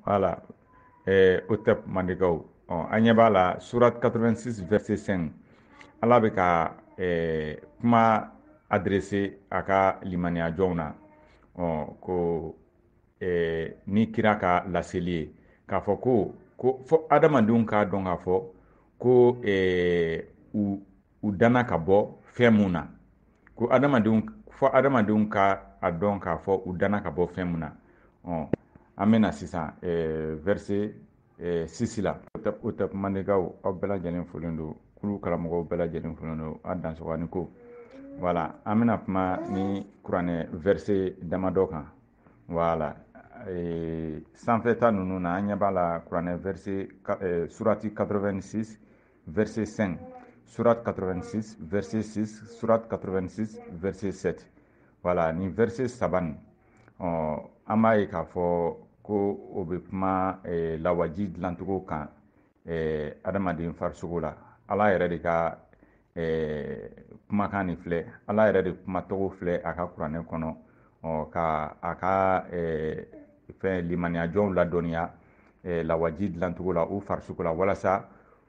Voilà hotep mandenkaw an ɲɛ b'a la surat 86 vɛrɛse 5 ala bɛ ka kuma adrese a ka limaniya jɔnw na ko ni kira ka laseli ye k'a fɔ ko ko fɔ adamadenw k'a dɔn k'a fɔ ko u u danna ka bɔ fɛn mun na ko adamadenw fɔ adamadenw ka a dɔn k'a fɔ u danna ka bɔ fɛn mun na ɔ an bɛna sisan eh, verse eh, sisi la hotep mandenkaw aw bɛɛ lajɛlen folen don kulu karamɔgɔw bɛɛ lajɛlen folen don a dansɔgɔ ni ko voilà an bɛna kuma nin kuranɛ verse damadɔ kan voilà eh, sanfɛta ninnu na an ɲɛ b'a la kuranɛ verse eh, surati 86 verset 5, surat 86, verset 6, surat 86, verset 7. Voilà, nin verset saban. Ɔ an b'a ye k'a fɔ ko o bɛ kuma eh, lawaji dilancogo kan eh, adamaden farisogo la ala yɛrɛ de ka eh, kumakan nin filɛ ala yɛrɛ de kumatɔgɔ filɛ a ka kuranɛ kɔnɔ ɔ ka a ka eh, fɛn limaniyajɔnw ladɔnniya eh, lawaji dilancogo la u farisogo la walasa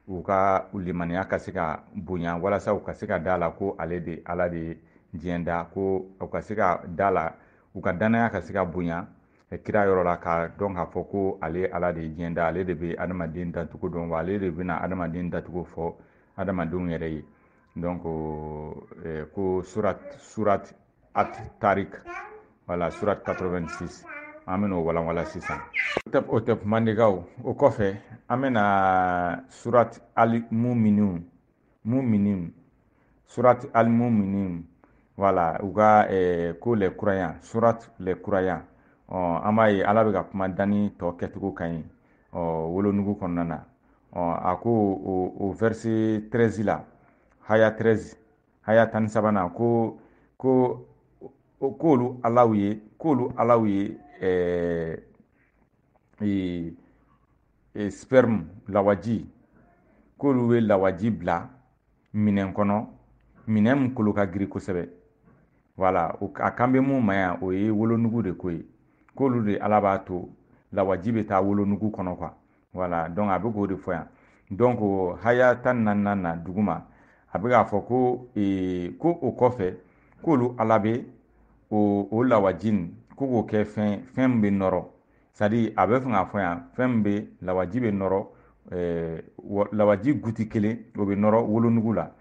u ka limaniya ka se ka bonya walasa u ka se ka da la ko ale de ala de ye diɲɛ da ko u ka se ka da la u ka dannaya ka se ka bonya eh, kira yɔrɔ la k'a dɔn k'a fɔ ko ale ala de ye diɲɛ da ale de bɛ adamaden dancogo dɔn wa ale de bɛna adamaden dancogo fɔ adamadenw yɛrɛ ye donc eh, ko surat surat at tarik wala surat 86 an bɛna o walanwalan sisan hotep mandenkaw o kɔfɛ an bɛna surat al muminin muminin surat al muminin wala u ka eh, ko les croyants surat les croyants ɔ an b'a ye ala bɛ ka kuma danni tɔ kɛcogo kan ɔ wolonugu kɔnɔna na ɔ a ko o o verse 13 la haya 13 haya tan ni sabanan ko ko k'olu alaw ye k'olu alaw ye ɛɛ ee ee sperme lawaji k'olu bɛ lawaji bila minɛn kɔnɔ minɛn min kolo ka girin kosɛbɛ wala a kan bɛ min ma yan o ye wolonugu de ko ye k'olu de ala b'a to lawaji bɛ taa wolonugu kɔnɔ quoi voilà donc a bɛ k'o de fɔ yan donc haya tan ni naani na duguma a bɛ k'a fɔ ko ee, ko o kɔfɛ k'olu ala bɛ o o lawaji nin ko k'o kɛ fɛn fɛn min bɛ nɔrɔ c'est-à-dire a bɛ fɛ k'a fɔ yan fɛn min bɛ lawaji bɛ nɔrɔ ee, lawaji goutte kelen o bɛ nɔrɔ wolonugu la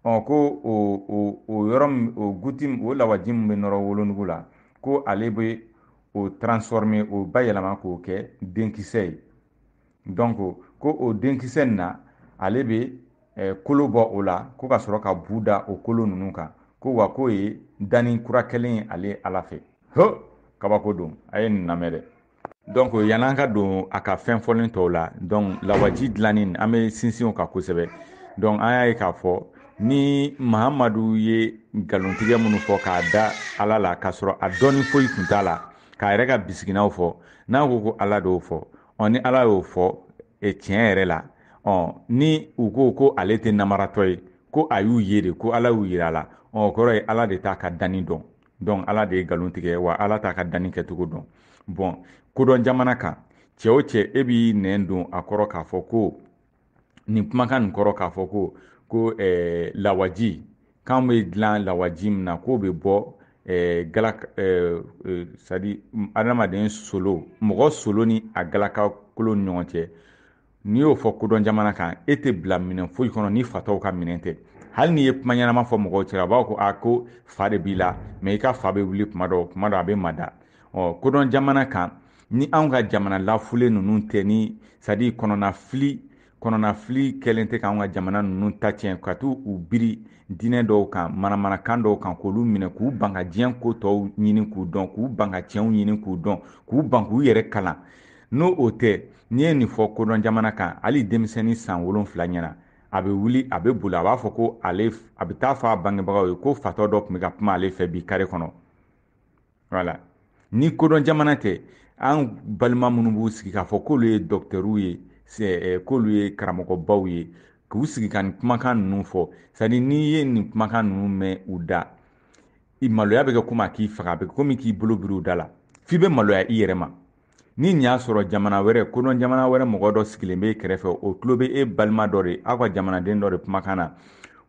ɔ ko o o o yɔrɔ min o goutte o lawaji min bɛ nɔrɔ wolonugu la ko ale bɛ o transforme o bayɛlɛma k'o kɛ denkisɛ ye donc ko o denkisɛ in na ale bɛ eh, kolo bɔ o la ko ka sɔrɔ ka bu da o kolo ninnu kan ko wa k'o ye danni kura kɛlen ye ale ala fɛ ho kabako don a ye nin lamɛn dɛ donc yann'an ka don a ka fɛn fɔlen tɔw la donc lawaji dilanni an bɛ sinsin o kan kosɛbɛ donc an y'a ye k'a fɔ ni mahamadu ye nkalontigɛ minnu fɔ k'a da ala la k'a sɔrɔ a dɔnni foyi tun t'a la k'a yɛrɛ ka bisiginaw fɔ n'a ko ko ala d'o fɔ ɔ ni ala y'o fɔ e tiɲɛ yɛrɛ la ɔ ni u ko ko ale tɛ namaratɔ ye ko a y'u ye de ko ala y'u yira a la o kɔrɔ ye ala de t'a ka danni dɔn dɔn ala de ye nkalon tigɛ wa ala t'a ka danni kɛcogo dɔn bon kodɔn jamana kan cɛw cɛ e b'i nɛn don a kɔrɔ k'a fɔ ko nin kumakan nin kɔrɔ k'a fɔ ko ko eh, lawaji k'an bɛ dilan lawaji min na k'o bɛ bɔ eh, gala eh, eh, sadi adamaden solo mɔgɔ solo ni a galaka kolo ni ɲɔgɔn cɛ n'i y'o fɔ kodɔn jamana kan e tɛ bila minɛn foyi kɔnɔ ni fatɔw ka minɛn tɛ hali n'i ye kuma ɲɛnama fɔ mɔgɔw cɛla a b'a ko a ko fa de b'i la mais i ka fa bɛ wuli kuma dɔ kuma dɔ a bɛ mada ɔ kodɔn jamana kan ni anw ka jamana lafulen ninnu tɛ ni sadi kɔnɔnafili kɔnɔnafili kɛlen tɛ k'an ka jamana ninnu ta tiɲɛ ka t'u u biri diinɛ dɔw kan manamanakan dɔw kan k'olu minɛ k'u ban ka diɲɛ ko tɔw ɲini k'u dɔn k'u ban ka tiɲɛw ɲini k'u dɔn k'u ban k'u yɛrɛ kalan n'o tɛ n'i ye nin fɔ kodɔn jamana kan hali denmisɛnnin san wolonfila ɲɛna a bɛ wuli a bɛ boli a b'a fɔ ko ale a bɛ t'a fɔ a bangebagaw ye ko fatɔ dɔ tun bɛ ka kuma ale fɛ bi kare kɔnɔ wala ni kodɔn jamana tɛ an balima minnu b'u sigi k'a fɔ k'olu ye dɔkitɛriw ye eh, k'olu ye karamɔgɔbaw ye k'u sigi ka nin kumakan ninnu fɔ sadi n'i ye nin kumakan ninnu mɛn u da i maloya bɛ kɛ komi a k'i faga a bɛ kɛ komi k'i bolo biri u da la f'i bɛ maloya i yɛrɛ ma ni nin y'a sɔrɔ jamana wɛrɛ kodɔn jamana wɛrɛ mɔgɔ dɔ sigilen b'i kɛrɛfɛ o tulo bɛ e balima dɔ de aw ka jamanaden dɔ de kumakan na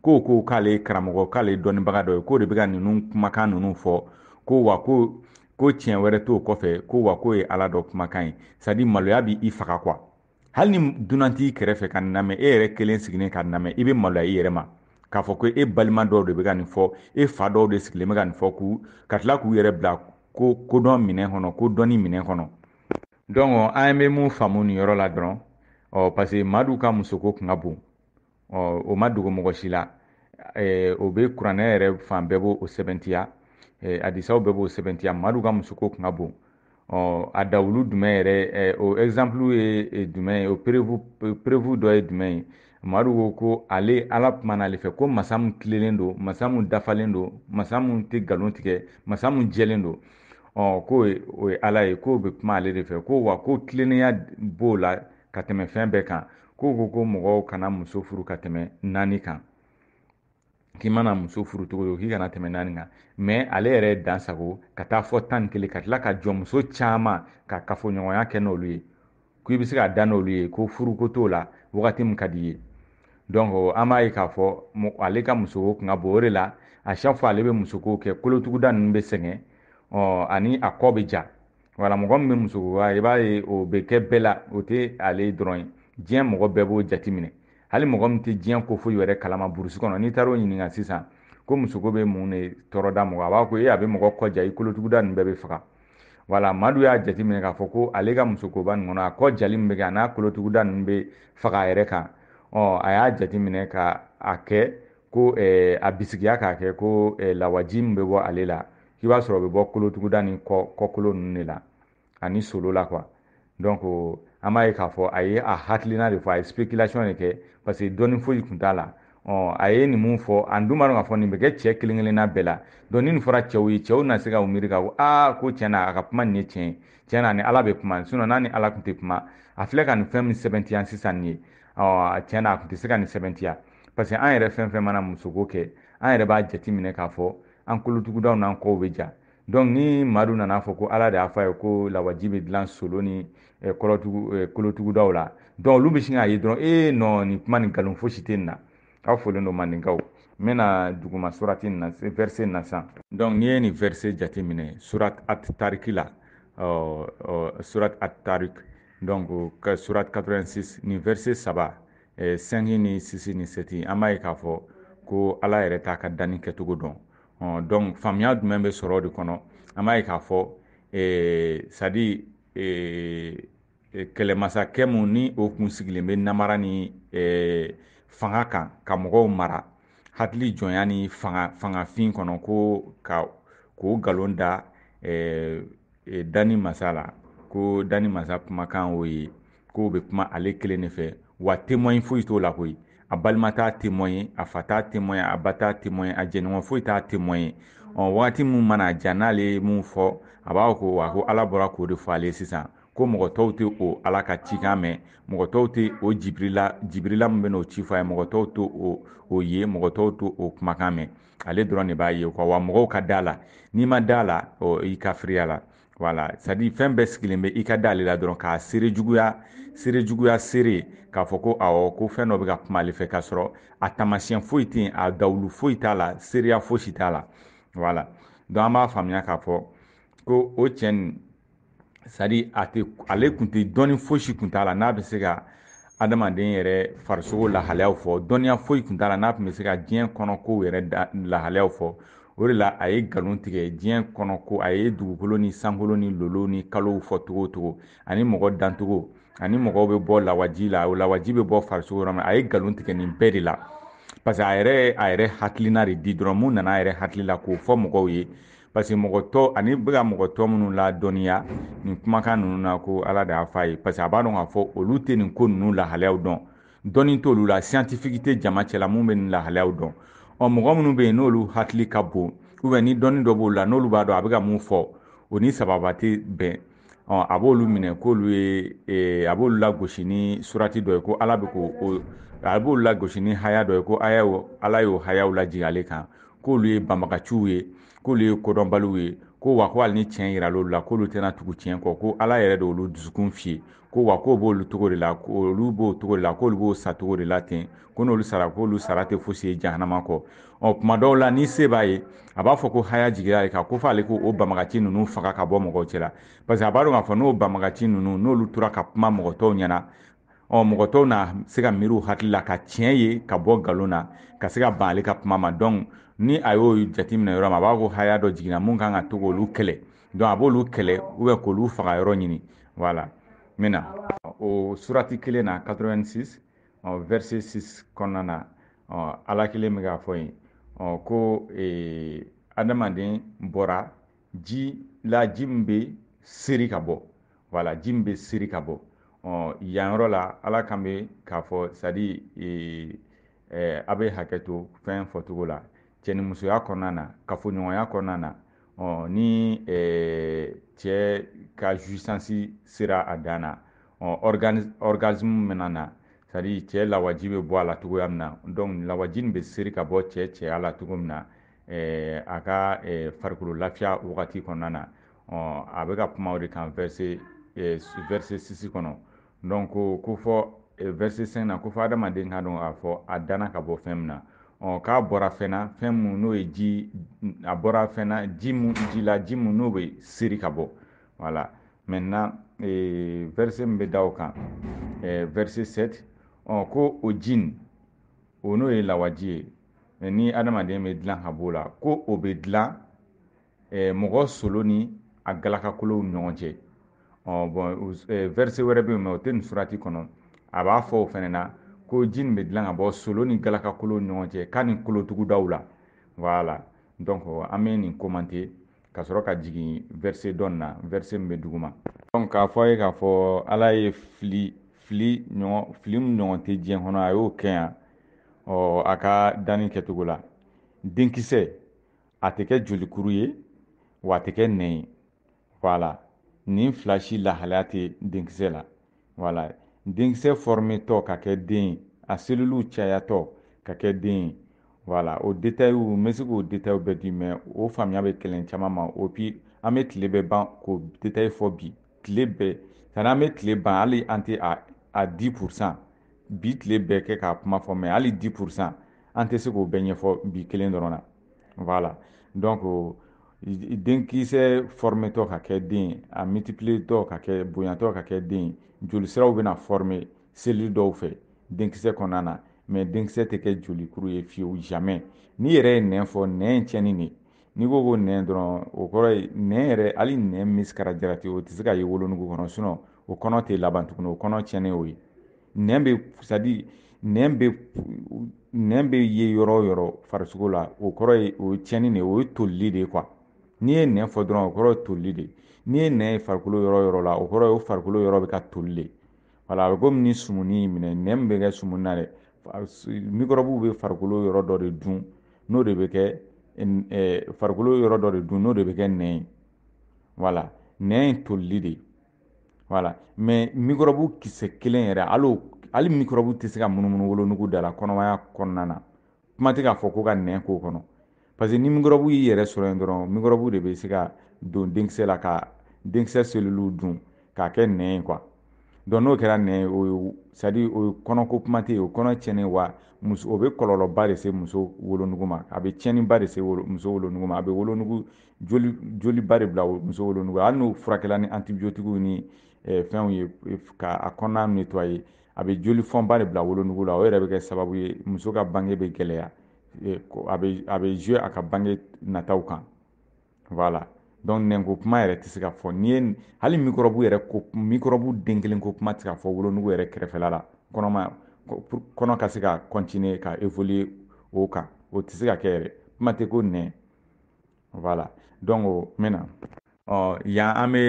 k'o ko k'ale ye karamɔgɔ k'ale dɔnnibaga dɔ ye k'o de bɛ ka ninnu kumakan ninnu fɔ ko wa ko ko tiɲɛ wɛrɛ t'o kɔfɛ ko wa k'o ye ala dɔ kumakan ye sadi maloya bɛ i faga quoi hali ni dunan t'i kɛrɛfɛ ka nin lamɛn e yɛrɛ kelen sigilen ka nin lamɛn i bɛ maloya i yɛrɛ ma k'a fɔ ko e balima dɔw de bɛ ka nin fɔ e fa dɔw de sigilen bɛ ka nin fɔ k'u ka tila k'u yɛrɛ bila ko kodɔn minɛn kɔnɔ ko dɔnni minɛn kɔnɔ donc an bɛ mun faamu nin yɔrɔ la dɔrɔn ɔ parce que madu ka musoko kun ka bon ɔ o ma dogo mɔgɔ si la eh, o bɛ kuranɛ yɛrɛ fan bɛɛ b'o o sɛbɛntiya eh, adisaw bɛɛ b'o sɛbɛntiya madu ka musoko kun ka bon ɔ a dalilu jumɛn yɛrɛ eh, o ɛgizanpulu ye eh, jumɛn ye o perevu perevu dɔ ye jumɛn ye madu ko ko ale ala kuma n'ale fɛ ko masa min tilelen don masa min dafalen don masa min tɛ nkalon tigɛ masa min jɛlen don ɔ k'o ye o ye ala ye k'o bɛ kuma ale de fɛ ko wa ko tilennenya b'o la ka tɛmɛ fɛn bɛɛ kan k'o ko ko mɔgɔw kana muso furu ka tɛmɛ naani kan k'i mana muso furu cogo cogo k'i kana tɛmɛ naani kan mɛ ale yɛrɛ dan sagon ka taa fɔ tan ni kelen ka tila ka jɔnmuso caman ka kafoɲɔgɔnya kɛ n'olu ye k'i bɛ se ka da n'olu ye ko furuko t'o la wagati min ka d'i ye donc an b'a ye k'a fɔ ale ka musoko kun ka bon o de la a chaque fois ale bɛ musoko kɛ kolotuguda ninnu bɛ sɛgɛn ɔ ani a kɔ bɛ ja wala mɔgɔ min bɛ musoko la i b'a ye o bɛ kɛ bɛɛ la o tɛ ale dɔrɔn ye diɲɛ mɔgɔ bɛɛ b'o jateminɛ hali mɔgɔ min tɛ diɲɛ ko foyi wɛrɛ kalama burusi kɔnɔ n'i taara o ɲininka sisan ko musoko bɛ mun de tɔɔrɔ da mɔgɔ a b'a ko e a bɛ mɔgɔ kɔ ja i kolotuguda ninnu bɛɛ bɛ faga wala madu y'a jateminɛ k'a fɔ ko ale ka musokoba nin kɔnɔ a kɔ jali min bɛ kɛ an'a kolotuguda ninnu bɛ faga a yɛrɛ kan ɔ a y'a jateminɛ ka a kɛ ko a bisigiya k'a kɛ ko lawaji min bɛ bɔ ale la k'i b'a sɔrɔ o bɛ bɔ kolotuguda ni kɔkolo ninnu de la ani solo la quoi donc an b'a ye k'a fɔ a ye a hakilina de fɔ a ye spéculation de kɛ parce que dɔnni foyi tun t'a la ɔ a ye nin min fɔ an dun b'a dɔn k'a fɔ nin bɛ kɛ cɛ kelen kelenna bɛɛ la donc ni nin fɔra cɛw ye cɛw na se ka u miiri ka ko aa ko tiɲɛ na a ka kuma nin ye tiɲɛ ye tiɲɛ na ni ala bɛ kuma sinon n'a ni ala tun tɛ kuma a filɛ ka nin fɛn min sɛbɛntiya sisan nin ye ɔ tiɲɛ na a tun tɛ se ka nin sɛbɛntiya parce que an yɛrɛ fɛn fɛn mana musoko kɛ an yɛrɛ b'a jateminɛ k'a fɔ an kolotugudaw n'an kɔw bɛ ja donc ni madu nan'a fɔ ko ala de y'a fɔ a ye ko lawaji bɛ dilan solo ni eh, eh, kolotugudaw la donc olu bɛ sin k'a ye dɔrɔn ee nɔ nin kuma nin nkalon fosi tɛ nin na aw folen don mandinkaw n bɛna duguma surati nin na verse nin na sisan donc n'i ye nin verse jateminɛ surat at tariki la surat at tarik donc surat 86 nin verse saba eh, sɛnki ni sisi ni sɛti an b'a ye k'a fɔ ko ala yɛrɛ t'a ka danni kɛcogo dɔn ɔ donc faamuya jumɛn bɛ sɔrɔ de kɔnɔ an b'a ye k'a fɔ eh, sadi eh, eh, kɛlɛmasakɛ mu ni o kun sigilen bɛ namara ni eh, fanga kan ka mɔgɔw mara hakili jɔnya ni fanga fangafin kɔnɔ ko ka k'o nkalon da eh, e, dani masa la ko dani masa kumakan o ye k'o bɛ kuma ale kelen de fɛ wa témoin foyi t'o la koyi a balima t'a témoin ye a fa t'a témoin a ba t'a témoin a jɛɲɔgɔn foyi t'a témoin ye ɔ wagati min mana diya n'ale ye mun fɔ a b'a ko wa ko ala bɔra k'o de fɔ ale sisan ko mɔgɔ tɔw tɛ o ala ka cikan mɛn mɔgɔ tɔw tɛ o jibirila jibirila min bɛn'o ci fɔ a ye mɔgɔ tɔw tɛ o ye mɔgɔ tɔw tɛ o kumakan mɛn ale dɔrɔn de b'a ye quoi wa mɔgɔw ka da a la n'i ma da a la o i kafiriyala voilà c'est à dire fɛn bɛɛ sigilen bɛ i ka da ale la dɔrɔn k'a seere juguya seere juguya seere k'a fɔ ko awɔ ko fɛn dɔ bɛ ka kuma ale fɛ k'a sɔrɔ a taamasiyɛn foyi tɛ yen a dalilu foyi t'a la seereya fosi t'a la voilà donc an b'a faamuya k'a fɔ ko o cɛ nin c'est à dire a tɛ ale tun tɛ dɔnni fosi tun t'a la n'a bɛ se ka adamaden yɛrɛ farisogo lahalayaw fɔ dɔnniya foyi tun t'a la n'a tun bɛ se ka diɲɛ kɔnɔ kow yɛrɛ lahalayaw fɔ o de la a ye nkalon tigɛ diɲɛ kɔnɔ ko a ye dugukolo ni sankolo ni lolo ni kalow fɔ cogo cogo ani mɔgɔ dancogo ani mɔgɔw bɛ bɔ lawaji la o lawaji bɛ bɔ farisogo yɔrɔ min a ye nkalon tigɛ nin bɛɛ de la parce que a yɛrɛ a yɛrɛ hakilina de di dɔrɔn mun nana a yɛrɛ hakili la k'o fɔ mɔgɔw ye parce que mɔgɔ tɔ ale bɛ ka mɔgɔ tɔ minnu ladɔnniya nin kumakan ninnu na ko ala de y'a fɔ a ye parce que a b'a dɔn k'a fɔ olu tɛ nin ko ninnu lahalayaw dɔn dɔnni t'olu la scientifique tɛ jama cɛla min bɛ nin lahalayaw dɔn ɔ mɔgɔ minnu bɛ yen n'olu hakili ka bon ou bien ni dɔnni dɔ b'olu la n'olu b'a dɔn a bɛ ka mun fɔ o ni sababu tɛ bɛn ɔ a b'olu minɛ k'olu ye e, a b'olu lagosi ni surati dɔ ye ko ala bɛ ko a b'olu lagosi ni haya dɔ ye ko aya ala y'o hayaw lajigin ale kan k'olu ye banbagaciw ye k'olu ye kodɔnbaliw ye ko wa ko hali ni tiɲɛ yiral'olu la k'olu tɛna tugu tiɲɛ kɔ ko ala yɛrɛ de olu dusukun fiyen ko wa k'o b'olu cogo de la k'olu b'o cogo de la k'olu bɛ sa o cogo de la ten ko n'olu sara k'olu sara tɛ fosi ye jahanama kɔ ɔ kuma dɔw la ni se b'a ye a b'a fɔ ko haya jigira ye ka ko fɔ ale ko o banbagaci ninnu faga ka bɔ mɔgɔw cɛla parce que a b'a dɔn k'a fɔ n'o banbagaci ninnu n'olu tora ka kuma mɔgɔ tɔw ɲɛna ɔ mɔgɔ tɔw na se ka miiri u hakili la ka tiɲɛ ye ka bɔ nkalon na ka se ka ban ale ka kuma ma donc ni a y'o jateminɛ yɔrɔ min a b'a ko haya dɔ jiginna mun kan ka to k'olu kɛlɛ donc a b'olu kɛlɛ ou bien k'olu faga yɔrɔ ɲini voilà n bɛna o surati kelen na 86 ɔ verset 6 kɔnɔna na ɔ ala kelen bɛ k'a fɔ yen ɔ ko ee, adamaden bɔra ji la ji min bɛ seri ka bɔ voilà ji min bɛ seri ka bɔ ɔ yan yɔrɔ la ala kan bɛ k'a fɔ c'est à dire ee, eh, a bɛ hakɛ to fɛn fɔcogo la cɛnimusoya kɔnɔna na kafoɲɔgɔnya kɔnɔna na ɔ ni eh, cɛ ka jouissance sera a dan na ɔ orgasme bɛna na c'est à dire cɛ lawaji bɛ bɔ a la cogoya min na donc lawaji nin bɛ seri ka bɔ cɛ cɛya la cogo min na eh, a ka eh, farikolo lafiya wagati kɔnɔna na ɔ a bɛ ka kuma o de kan verset eh, verset six kɔnɔ donc ko ko fɔ eh, verset cinq na ko fɔ adamaden ka dɔn k'a fɔ a danna ka bɔ fɛn min na ɔ k'a bɔra fɛn na fɛn mun n'o ye ji a bɔra fɛn na ji mun ji la ji mun n'o bɛ seri ka bɔ voilà maintenant eh, verset min bɛ da o kan eh, verset 7 ɔ ko o ji nin o n'o ye lawaji ye eh, ni adamaden bɛ dilan ka b'o la ko o bɛ dilan eh, mɔgɔ solo ni a galakakolow ni ɲɔgɔn cɛ ɔ bon eh, verset wɛrɛ bɛ yen mais o tɛ nin surati kɔnɔ a b'a fɔ o fana na ko ji nin bɛ dilan ka bɔ solo ni galakakolow ni ɲɔgɔn cɛ k'a ni kolotugudaw la voilà donc an bɛ nin commenter ka sɔrɔ ka jigin verset dɔ in na verset min bɛ duguma donc k'a fɔ a ye k'a fɔ ala ye fili fili ɲɔgɔn fili min ɲɔgɔn tɛ diɲɛ kɔnɔ a y'o kɛ yan ɔ a ka danni kɛcogo la denkisɛ a tɛ kɛ jolikuru ye wa a tɛ kɛ nɛn ye voilà nin fila si lahalaya tɛ denkisɛ la voilà denkisɛ fɔrɔmetɔ ka kɛ den ye a seliliw cayatɔ ka kɛ den ye voilà o detayiw n bɛ se k'o detayiw bɛɛ di mais o faamuya bɛ gɛlɛn caman ma et puis an bɛ tile bɛɛ ban k'o detayi fɔ bi tile bɛɛ sanni an bɛ tile ban hali an tɛ a a dix pour cent bi tile bɛɛ kɛ k'a kuma fɔ mais hali dix pour cent an tɛ se k'o bɛɛ ɲɛfɔ bi kelen dɔrɔn na voilà donc denkisɛ fɔrɔmetɔ ka kɛ den a mitipiletɔ ka kɛ bonyatɔ ka kɛ den jolisiraw bɛna fɔrɔme selili dɔw fɛ denkisɛ kɔnɔna na mais denkisɛ tɛ kɛ jolikuru ye fiyewu jamais n'i yɛrɛ ye nɛn fɔ nɛn ye tiɲɛni de n'i ko ko nɛn dɔrɔn o kɔrɔ ye nɛn yɛrɛ hali nɛn misikala jarati o tɛ se ka ye wolonugu kɔnɔ sinon o kɔnɔ tɛ laban tuguni o kɔnɔ tiɲɛnen o ye nɛn bɛ c'est à dire nɛn bɛ nɛn bɛ ye yɔrɔ o yɔrɔ farisogo la o kɔrɔ ye o ye tiɲɛni de ye o ye tolili de ye quoi n'i ye nɛn fɔ dɔrɔn o kɔrɔ ye tolili de ye n'i ye nɛn ye farikolo yɔrɔ o yɔrɔ la o kɔrɔ ye o farikolo yɔrɔ bɛ ka toli de voilà a bɛ komi ni sumuni y'i minɛ nɛn min bɛ kɛ sumuni na dɛ mikɔrɔbuw bɛ farikolo yɔrɔ dɔ de dun n'o de bɛ kɛ farikolo yɔrɔ dɔ de dun n'o de bɛ kɛ nɛn ye voilà nɛn ye tolili de ye voilà mais mikɔrɔbu kisɛ kelen yɛrɛ hali hali mikɔrɔbu tɛ se ka munumunu wolonugu da la kɔnɔmaya kɔnɔna na kuma tɛ k'a fɔ ko ka nɛn k'o kɔnɔ parce que ni mikɔrɔbu y'i yɛrɛ sɔrɔ yen dɔrɔn mikɔrɔbu de bɛ se ka don denkisɛ la ka denkisɛ seliliw dun k'a kɛ nɛn ye quoi donc n'o kɛra nɛn ye o ye c'est à dire o ye kɔnɔko kuma tɛ yen o kɔnɔ tiɲɛnen wa muso o bɛ kɔlɔlɔba de se muso wolonugu ma a bɛ tiɲɛniba de se muso wolonugu ma a bɛ wolonugu joli joliba de bila muso wolonugu hali n'o furakɛla ni antibiotigiw ni eh, fɛnw ye eh, ka a kɔnɔna netwaye a bɛ joli fɔnba de bila wolonugu la o yɛrɛ bɛ kɛ sababu ye muso ka bange bɛ gɛlɛya eh, a bɛ a bɛ jouer a ka bange nataw kan voilà donc nɛnko kuma yɛrɛ tɛ se ka fɔ n'i ye hali mikɔrɔbu yɛrɛ ko mikɔrɔbu den kelen ko kuma tɛ se ka fɔ wolonugu yɛrɛ kɛrɛfɛla la kɔnɔma kɔnɔ ka se ka continuer ka évoluer o kan o tɛ se ka kɛ yɛrɛ kuma tɛ ko nɛn wala dɔnku n bɛna ɔ yan an bɛ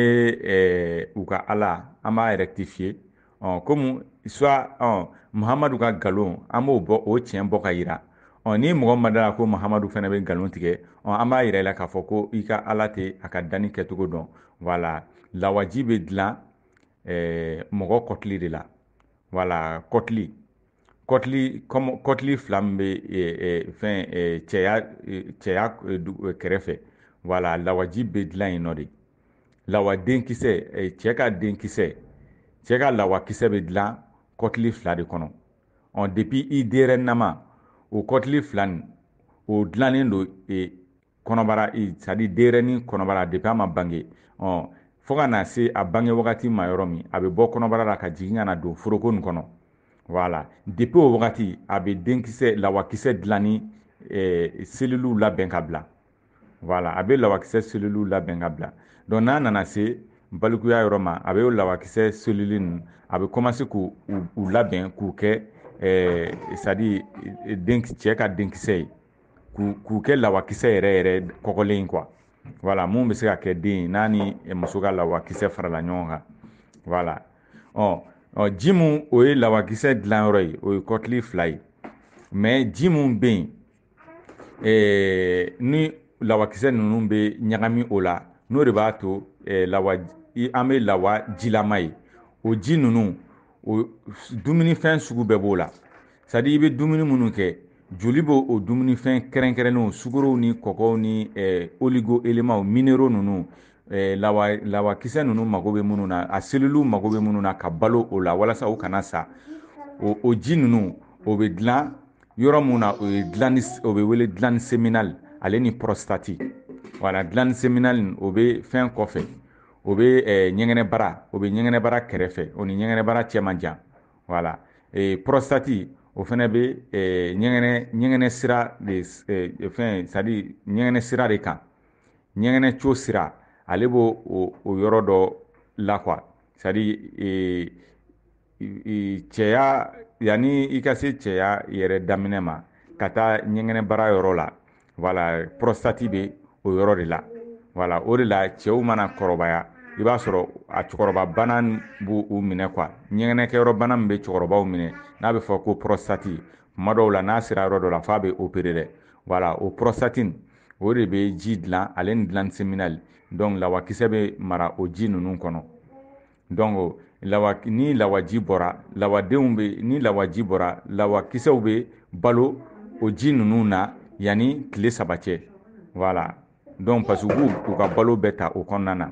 eh, u ka ala an b'a erɛkitifiye ɔ komi swa ɔ muhamadu ka nkalon an b'o bɔ o tiɲɛ bɔ ka yira ɔ ni mɔgɔ ma da a la ko muhamadu fana bɛ nkalon tigɛ ɔ an b'a yira i la k'a fɔ ko i ka ala tɛ a ka danni kɛcogo dɔn wala lawaji bɛ dilan eh, mɔgɔ kɔtili de la wala kɔtili kɔtili kɔnɔ kɔtili fila min bɛ fɛn cɛya cɛya kɛrɛfɛ wala lawaji bɛ dilan yen nɔ de lawa denkisɛ cɛ ka denkisɛ cɛ ka lawakisɛ bɛ dilan kɔtili fila de kɔnɔ ɔ depi i denyɛrɛnama o kɔtili fila nin o dilannen don kɔnɔbara sadi denyɛrɛnin kɔnɔbara depi a ma bange ɔ fo ka na se a bange wagati ma yɔrɔ min a bɛ bɔ kɔnɔbara la ka jigin ka na don foroko nin kɔnɔ wala depi o wagati a bɛ denkisɛ lawakisɛ dilanni eh, seliliw labɛn ka bila wala a bɛ lawakisɛ seliliw labɛn ka bila dɔnku n'a nana se balikuya yɔrɔ ma a bɛ o lawakisɛ selili ninnu a bɛ kɔmanse k'u labɛn k'u kɛ eh, sadi eh, cɛ ka denkisɛ ye k'u kɛ lawakisɛ yɛrɛ yɛrɛ kɔgɔlen kuwa wala mun bɛ se ka kɛ den ye n'a ni muso ka lawakisɛ farala ɲɔgɔn kan wala ɔ ɔ ji mun o ye lawakisɛ dilanyɔrɔ ye o ye kɔtili fila ye mɛ ji mun bɛ yen ni lawakisɛ ninnu bɛ ɲagami o la n'o de b'a to lawa an bɛ lawa jilama ye o ji ninnu o dumunifɛn sugu bɛɛ b'o la sadi i bɛ dumuni minnu kɛ joli b'o o dumunifɛn kɛrɛnkɛrɛnnenw sukorow ni kɔkɔw ni eh, oligo elemaw minero ninnu eh, lawa lawakisɛ ninnu mago bɛ minnu na a seliliw mago bɛ minnu na ka balo o la walasa u kana sa o, o ji ninnu o bɛ dilan yɔrɔ mun na o ye gilandi o bɛ wele gilandi seminali ale ni pɔrɔsitati wala gilandi seminali o bɛ fɛn kɔfɛ o bɛ eh, ɲɛgɛnɛbara o bɛ ɲɛgɛnɛbara kɛrɛfɛ o ni ɲɛgɛnɛbara cɛ man jan wala eh, prostate o fana bɛ eh, ɲɛgɛnɛ ɲɛgɛnɛ sira de eh, fɛn sadi ɲɛgɛnɛ sira de kan ɲɛgɛnɛ tiyo sira ale b'o o, o yɔrɔ dɔ la quoi sadi eh, cɛya yanni i ka se cɛya yɛrɛ daminɛ ma ka taa ɲɛgɛnɛbara yɔrɔ la voilà pɔrɔsitati bɛ o yɔrɔ de la voilà o de la cɛw mana kɔrɔbaya i b'a sɔrɔ a cɛkɔrɔba bana b'u minɛ quoi ɲɛgɛnɛkɛyɔrɔ bana min bɛ cɛkɔrɔbaw minɛ n'a bɛ fɔ ko pɔrɔsitati tuma dɔw la n'a sera yɔrɔ dɔ la f'a bɛ opere dɛ voilà o pɔrɔsitati o de bɛ ji dilan ale ni glande séminale donc lawakisɛ bɛ mara o ji ninnu kɔnɔ donc lawa ni lawaji bɔra lawadenw bɛ ni lawaji bɔra lawakisɛw be balo o ji ninnu na yanni tile saba cɛ voilà donc parce que u ka balo bɛ ta o kɔnɔna na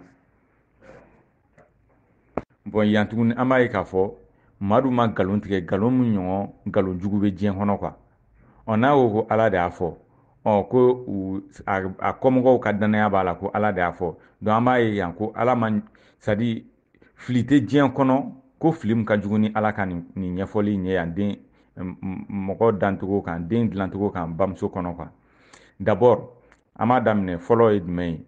bon yan tuguni an b'a ye k'a fɔ madu ma nkalon tigɛ nkalon min ɲɔgɔn nkalon jugu bɛ diɲɛ kɔnɔ quoi ɔ n'a ko ko ala de y'a fɔ ɔ ko a kɔmɔgɔw ka dannaya b'a la ko ala de y'a fɔ donc an b'a ye yan ko ala ma c'est à dire fili tɛ diɲɛ kɔnɔ ko fili min ka jugu ni ala ka nin ɲɛfɔli ye yan den mɔgɔ dancogo kan den dilancogo kan bamuso kɔnɔ quoi d'abord an b'a daminɛ fɔlɔ ye jumɛn ye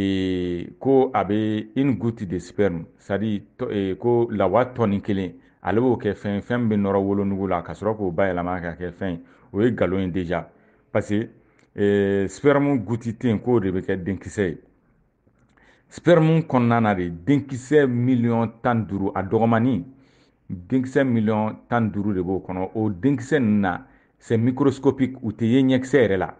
ee, ko a bɛ une goutte de sperme c'est à dire ee, ko lawa tɔni kelen ale b'o kɛ fɛn fɛn min bɛ nɔrɔ wolonugu la ka sɔrɔ k'o bayɛlɛma ka kɛ fɛn o ye nkalon ye déjà parce que ee, sperme goutte tɛ yen k'o de bɛ kɛ denkisɛ ye sperme kɔnɔna na de denkisɛ miliyɔn tan duuru a dɔgɔmani denkisɛ miliyɔn tan duuru de b'o kɔnɔ o denkisɛ ninnu na c'est microscopique u tɛ ye ɲɛkisɛ yɛrɛ la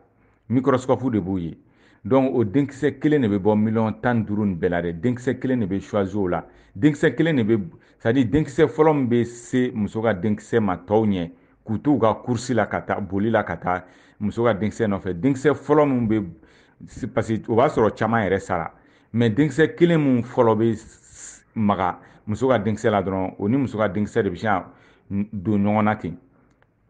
microscope de b'u ye donc o denkisɛ kelen de bɛ bɔ miliyɔn tan duuru nin bɛɛ la dɛ denkisɛ kelen de bɛ choisi o la denkisɛ kelen de bɛ c'est à dire denkisɛ fɔlɔ min bɛ se muso ka denkisɛ ma tɔw ɲɛ k'u to u ka course la ka taa boli la ka taa muso ka denkisɛ nɔfɛ denkisɛ fɔlɔ min bɛ parce que o b'a sɔrɔ caman yɛrɛ sara mais denkisɛ kelen min fɔlɔ bɛ maga muso ka denkisɛ la dɔrɔn o ni muso ka denkisɛ de bɛ se ka don ɲɔgɔn na ten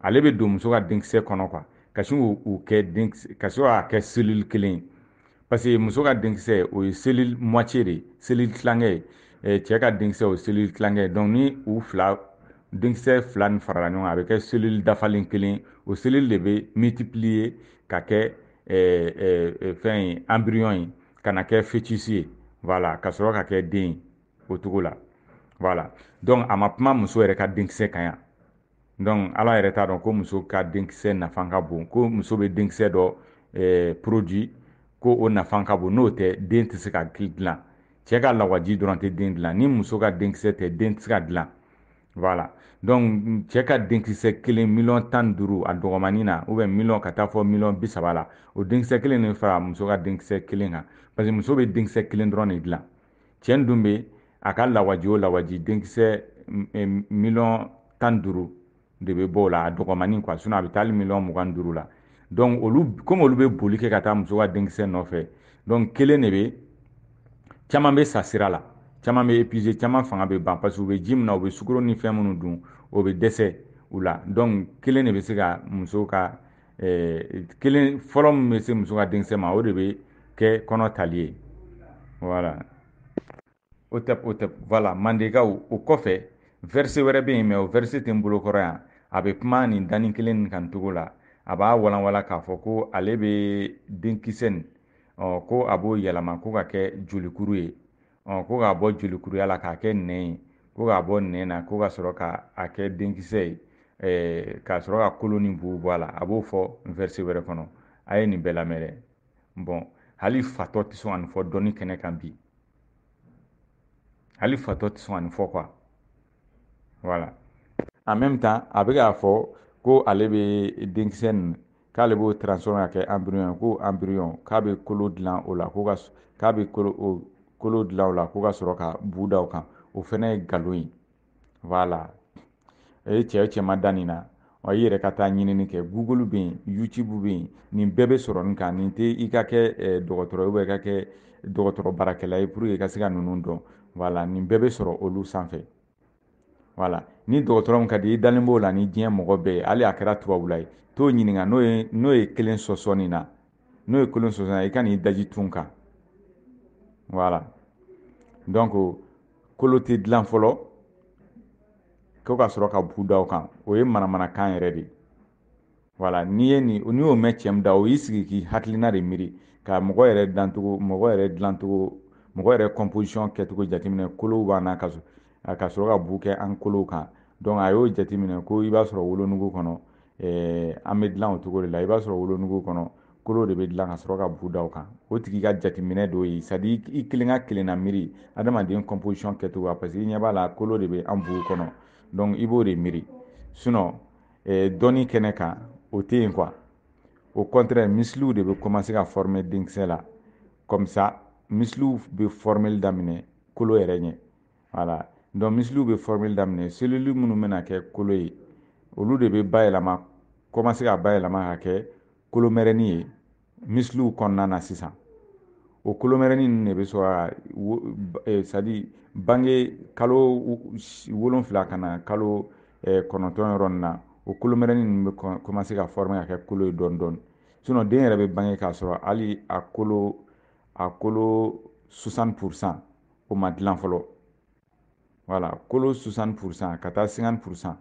ale bɛ don muso ka denkisɛ kɔnɔ quoi ka sin k'u kɛ ka sin k'a kɛ selili kelen ye parce que muso ka denkisɛ o ye selili moitié de ye selili tilankɛ ye cɛ ka denkisɛ o ye selili tilankɛ ye donc ni u fila denkisɛ fila nin farala ɲɔgɔn kan a bɛ kɛ selili dafalen kelen o selili de bɛ multiplier ka kɛ fɛn ye embryon ye ka na kɛ fœtus ye voilà ka sɔrɔ ka kɛ den ye o cogo la voilà donc a ma kuma muso yɛrɛ ka denkisɛ kan yan donc ala yɛrɛ t'a dɔn ko muso ka denkisɛ nafa ka bon ko muso bɛ denkisɛ dɔ eh, produit ko o nafa ka bon n'o tɛ den tɛ se ka dilan cɛ ka lawaji dɔrɔn tɛ den dilan ni muso ka denkisɛ tɛ den tɛ se ka dilan voilà donc cɛ ka denkisɛ kelen miliyɔn tan ni duuru a dɔgɔmani na ou bien miliyɔn ka taa fo miliyɔn bi saba la o denkisɛ kelen de fara muso ka denkisɛ kelen kan parce que muso bɛ denkisɛ kelen dɔrɔn de dilan cɛ dun bɛ a ka lawaji o lawaji denkisɛ miliyɔn tan duuru de bɛ bɔ o la a dɔgɔmani kuwa sinɔn a bɛ taa hali miliyɔn mugan duuru la dɔnku olu komi olu bɛ boli kɛ ka taa muso ka denkisɛ nɔfɛ dɔnku kelen de bɛ caman bɛ sa sira la caman bɛ epize caman fanga bɛ ban parce que u bɛ ji min na u bɛ sukoro ni fɛn minnu dun o bɛ dɛsɛ u la dɔnku kelen de bɛ se ka muso ka eh, kelen fɔlɔ min bɛ se muso ka denkisɛ ma o de bɛ kɛ kɔnɔ tali ye wala hotep hotep wala mandekaw o kɔfɛ vɛrise wɛrɛ bɛ yen mɛ o vɛrise tɛ n bolo kɔrɔ yan a bɛ kuma nin danni kelen nin kan cogo la a b'a walanwalan k'a fɔ ko ale bɛ denkisɛ nin ko a b'o yɛlɛma ko k'a kɛ jolikuru ye ɔ ko k'a bɔ jolikuruya la k'a kɛ nɛn ye ko k'a bɔ nɛn na ko ka sɔrɔ k'a kɛ denkisɛ ye eh, ka sɔrɔ ka kolo ni bu bɔ a la a b'o fɔ verset wɛrɛ kɔnɔ a ye nin bɛɛ lamɛn dɛ bɔn hali fatɔ tɛ sɔn ka nin fɔ dɔnni kɛnɛ kan bi hali fatɔ tɛ sɔn ka nin fɔ kuwa wala en même temps a bɛ k'a fɔ ko ale bɛ denkisɛ nin k'ale b'o transformer k'a kɛ embryon ye ko embryon k'a bɛ kolo dilan o la ko ka k'a bɛ kolo o kolo dilan o la ko ka sɔrɔ ka bu da o kan o fana ye nkalon ye voilà e ye cɛ cɛ ma da nin na wa i yɛrɛ ka taa ɲinini kɛ google bɛ yen youtube bɛ yen nin bɛɛ bɛ sɔrɔ nin kan nin tɛ i ka kɛ eh, dɔgɔtɔrɔ ye i ka kɛ dɔgɔtɔrɔ baarakɛla ye pour que i ka se ka ninnu dɔn voilà nin bɛɛ bɛ sɔrɔ olu sanfɛ wala ni dɔgɔtɔrɔ min ka di i dalen b'o la ni diɲɛ mɔgɔ bɛɛ ye hali a kɛra tubabula ye t'o ɲininka n'o ye n'o ye kelen sɔsɔ nin na n'o ye kelen sɔsɔ na i ka n'i daji tu n kan wala donc kolo tɛ dilan fɔlɔ ko ka sɔrɔ ka bu da o kan o ye manamanakan yɛrɛ de ye wala n'i ye nin n'i y'o mɛn cɛman dɔ y'i sigi k'i hakilina de miiri ka mɔgɔ yɛrɛ dancogo mɔgɔ yɛrɛ dilancogo mɔgɔ yɛrɛ composition kɛcogo jateminɛ kolow b'an na ka ka sɔrɔ ka bu kɛ an kolow kan donc a y'o jateminɛ ko i b'a sɔrɔ wolonugu kɔnɔ eh, an bɛ dilan o cogo de la i b'a sɔrɔ wolonugu kɔnɔ kolo de bɛ dilan ka sɔrɔ ka bu da o kan o tigi ka jateminɛ dɔ ye c'est-à-dire i kelen ka kelenna miiri adamaden composition kɛcogo parce que i ɲɛ b'a la kolo de bɛ an bu kɔnɔ donc i b'o de miiri sinon eh, dɔnni kɛnɛ kan o tɛ yen quoi au contraire misiliw de bɛ commencer ka former denkisɛ la comme ça misiliw bɛ formeli daminɛ kolo yɛrɛ ɲɛ voilà donc misiliw bɛ formeli daminɛ selili minnu bɛna kɛ kolo ye olu de bɛ bayɛlɛma commencer ka bayɛlɛma ka kɛ kolomɛrɛni ye misiliw kɔnɔna na sisan o kolomɛrɛnin ninnu de bɛ sɔrɔ ka eh, sadi bange kalo wolonfila ka na kalo eh, kɔnɔntɔn yɔrɔ nin na o kolomɛrɛnin ninnu bɛ kɔmanse ka fɔrɔmɛ ka kɛ kolo ye dɔɔni dɔɔni sinɔ den yɛrɛ bɛ bange k'a sɔrɔ hali a kolo a kolo 60 pourcent o ma dilan fɔlɔ voilà kolo 60 pourcent ka taa 50 pourcent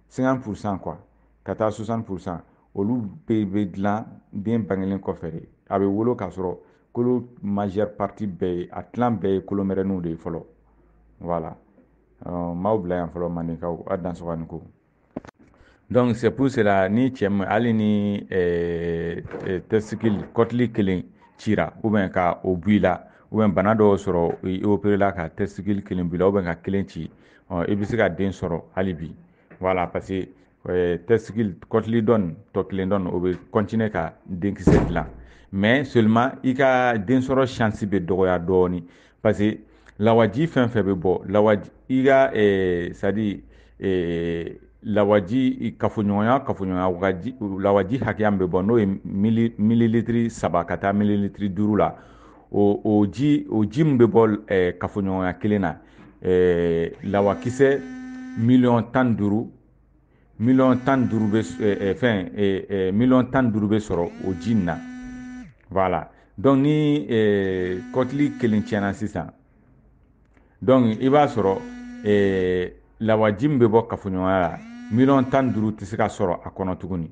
50 pourcent quoi ka taa 60 pourcent olu bɛɛ bɛ dilan den bangelen kɔfɛ de a bɛ wolo k'a sɔrɔ kolo majeure partie bɛɛ ye a tilan bɛɛ ye kolomɛrɛninw de ye fɔlɔ wala maaw bila yan fɔlɔ mandenkaw a dansɔgɔ ni ko donc c'est pour cela ni cɛ ma hali ni euh, euh, testicule kɔtili kelen cira ou bien ka o bɔ i la ou bien bana dɔ y'o sɔrɔ i operela ka testicule kelen bɔ i la ou bien ka kelen ci ɔ i bɛ se ka den sɔrɔ hali bi voilà parce que euh, testicule kɔtili dɔ in tɔ kelen dɔ in o bɛ continuer ka denkisɛ dilan mais seulement i ka densɔrɔ chance bɛ dɔgɔya dɔɔni parce que lawaji fɛn fɛn bɛ bɔ lawaji i ka ɛɛ sadi ɛɛ lawaji kafoɲɔgɔnya kafoɲɔgɔnya waji lawaji hakɛya min bɛ bɔ n'o ye mili mililitiri saba ka taa mililitiri duuru la o o ji o ji min bɛ bɔ ɛɛ kafoɲɔgɔnya kelen na ɛɛ lawakisɛ miliyɔn tan ni duuru miliyɔn tan ni duuru bɛ fɛn miliyɔn tan ni duuru bɛ sɔrɔ o ji in na voilà donc ni kɔtili kelen tiɲɛna sisan donc i b'a sɔrɔ lawaji min bɛ bɔ kafoɲɔgɔnya la miliyɔn tan ni duuru tɛ se ka sɔrɔ a kɔnɔ tuguni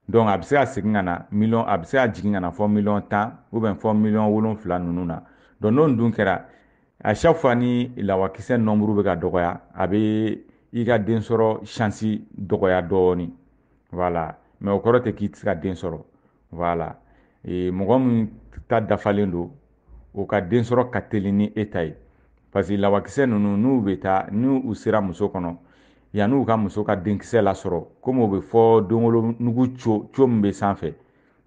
donc a bɛ se ka segin ka na miliyɔn a bɛ se ka jigin ka na fo miliyɔn tan ou bien fo miliyɔn wolonfila ninnu na donc n'o dun kɛra à chaque fois ni lawakisɛ nɔnburu bɛ ka dɔgɔya a bɛ i ka densɔrɔ shansi dɔgɔya dɔɔni voilà mais o kɔrɔ tɛ k'i tɛ se ka den sɔrɔ voilà mɔgɔ min ta dafalen don o ka densɔrɔ ka teli ni e ta ye parce que lawakisɛ ninnu n'u bɛ taa ni u sera muso kɔnɔ yanni u ka muso ka denkisɛ lasɔrɔ komi o bɛ fɔ denwolo nugu co co min bɛ sanfɛ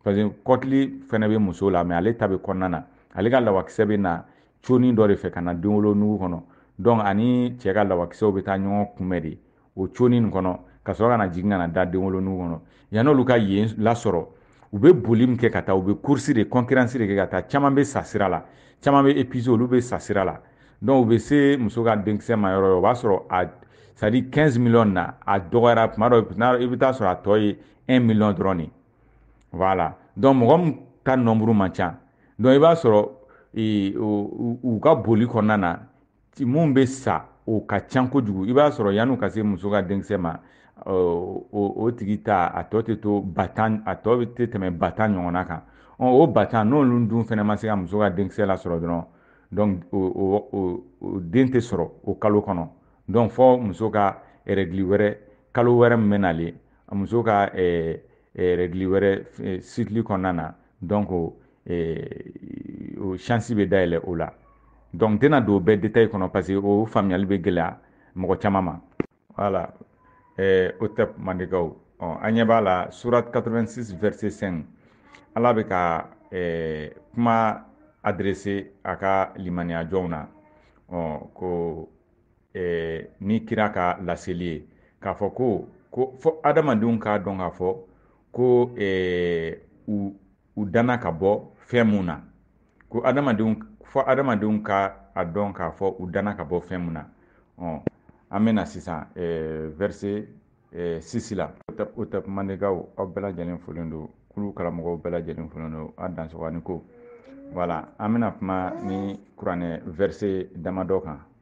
parce que kɔtili fɛnɛ bɛ muso la mais ale ta bɛ kɔnɔna na ale ka lawakisɛ bɛ na conin dɔ de fɛ ka na denwolo nugu kɔnɔ donc ani cɛ ka lawakisɛw bɛ taa ɲɔgɔn kunbɛn de o conin nin kɔnɔ ka sɔrɔ ka na jigin ka na da denwolo nugu kɔnɔ yan'olu ka yen lasɔrɔ u bɛ boli min kɛ ka taa u bɛ kursi de kɔnkiransi de kɛ ka taa caman bɛ sa sira la caman bɛ epize olu bɛ sa sira la donc u bɛ se muso ka denkisɛ ma yɔrɔ yɔrɔ o b'a sɔrɔ a c'est à dire 15 millions na a dɔgɔyara tuma dɔ i bɛ taa sɔrɔ a tɔ ye 1 million dɔrɔn de voilà donc mɔgɔ min ka nombre man ca donc i b'a sɔrɔ e, u ka boli kɔnɔna na minnu bɛ sa o ka ca kojugu i b'a sɔrɔ yanni u ka se muso ka denkisɛ ma o tigi ta a tɔ tɛ to ba tan a tɔ tɛ tɛmɛ ba tan ɲɔgɔnna kan o ba tan n'olu dun fana ma se ka muso ka denkisɛ lasɔrɔ dɔrɔn donc o den tɛ sɔrɔ o kalo kɔnɔ donc fɔ muso ka règle wɛrɛ kalo wɛrɛ min bɛ nalen a muso ka eh, eh, règle wɛrɛ eh, cycle kɔnɔna na donc o chance bɛ dayɛlɛ o la donc n tɛna don bɛɛ détail kɔnɔ parce que o faamuyali bɛ gɛlɛya mɔgɔ caman ma voilà hotep mandenkaw an ɲɛ b'a la surat 86 verset 5 ala bɛ ka kuma adresser a ka limaniyajɔnw na ko eh, ni kira ka laseli ye k'a fɔ ko ko fɔ adamadenw k'a dɔn k'a fɔ ko eh, u u danna ka bɔ fɛn mun na ko adamadenw fɔ adamadenw ka a dɔn k'a fɔ u danna ka bɔ fɛn mun na ɔ an bɛna sisan eh, verset eh, 6 la hotep mandenkaw aw bɛɛ lajɛlen folen don kulu karamɔgɔw bɛɛ lajɛlen folen don a dansɔgɔni ko voilà an bɛna kuma ni kuranɛ verset damadɔ kan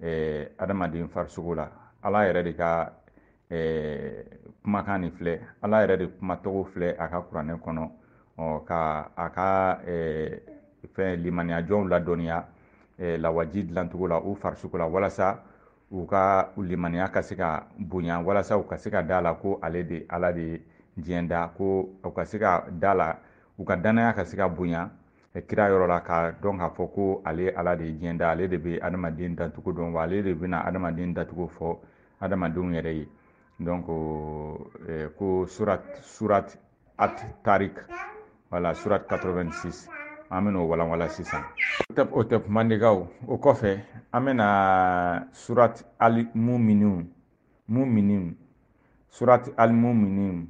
ɛɛ adamaden farisogo la ala yɛrɛ de ka ɛɛ kumakan nin filɛ ala yɛrɛ de kumacogo filɛ a ka kuranɛ kɔnɔ ɔ ka a ka ɛɛ fɛn limaniyajɔnw ladɔnniya ɛɛ lawaji dilancogo la u farisogo la walasa u ka limaniya ka se ka bonya walasa u ka se ka da la ko ale de ala de ye diɲɛ da ko u ka se ka da la u ka dannaya ka se ka bonya kira yɔrɔ la k'a dɔn k'a fɔ ko ale ala de ye diɲɛ da ale de bɛ adamaden dacogo dɔn wa ale de bɛna adamaden dacogo fɔ adamadenw yɛrɛ ye donc eh, ko surat surat at tarik wala surat 86 an bɛna o walanwalan sisan hotep mandenkaw o kɔfɛ an bɛna surat al muminin muminin surat al muminin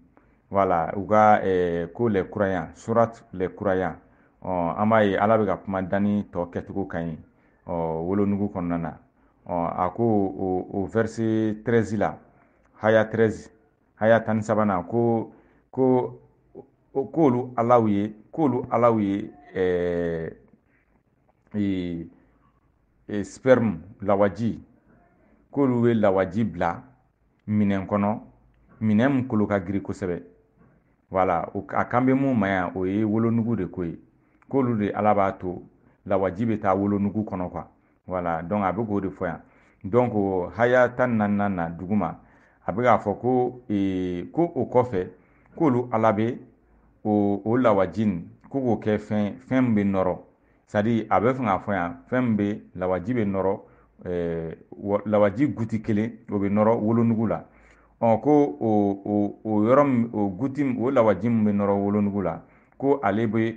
voilà u ka eh, ko les croyants surat les croyants ɔ oh, an b'a ye ala bɛ ka kuma danni tɔ kɛcogo kan yen ɔ oh, wolonugu kɔnɔna na ɔ oh, a ko o o verset 13 la haya 13 haya tan ni sabanan ko ko k'olu alaw ye k'olu alaw ye ɛɛ eh, ee e, sperme lawaji k'olu bɛ lawaji bila minɛn kɔnɔ minɛn min kolo ka girin kosɛbɛ voilà a kan bɛ mun ma yan o ye wolonugu de ko ye k'olu de ala b'a to lawaji bɛ taa wolonugu kɔnɔ quoi voilà donc a bɛ k'o de fɔ yan donc ko haya tan ni naaninan na duguma a bɛ k'a fɔ ko ee, ko o kɔfɛ k'olu ala bɛ o o lawaji in ko k'o kɛ fɛn fɛn min bɛ nɔrɔ c'est-à-dire a bɛ fɛ k'a fɔ yan fɛn min bɛ lawaji bɛ nɔrɔ eh, lawaji goutte kelen o bɛ nɔrɔ wolonugu la ɔ ko o o o yɔrɔ min o goutte o lawaji min bɛ nɔrɔ wolonugu la ko ale bɛ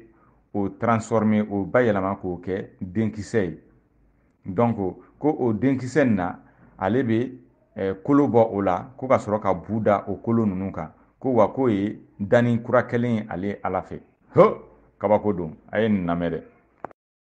o transformer o bayɛlɛma k'o kɛ denkisɛ ye donc ko o denkisɛ nin na ale bɛ eh, kolo bɔ o la ko ka sɔrɔ ka bu da o kolo ninnu kan ko wa k'o ye danni kura kɛlen ye ale ala fɛ ho kabako don a ye nin lamɛn dɛ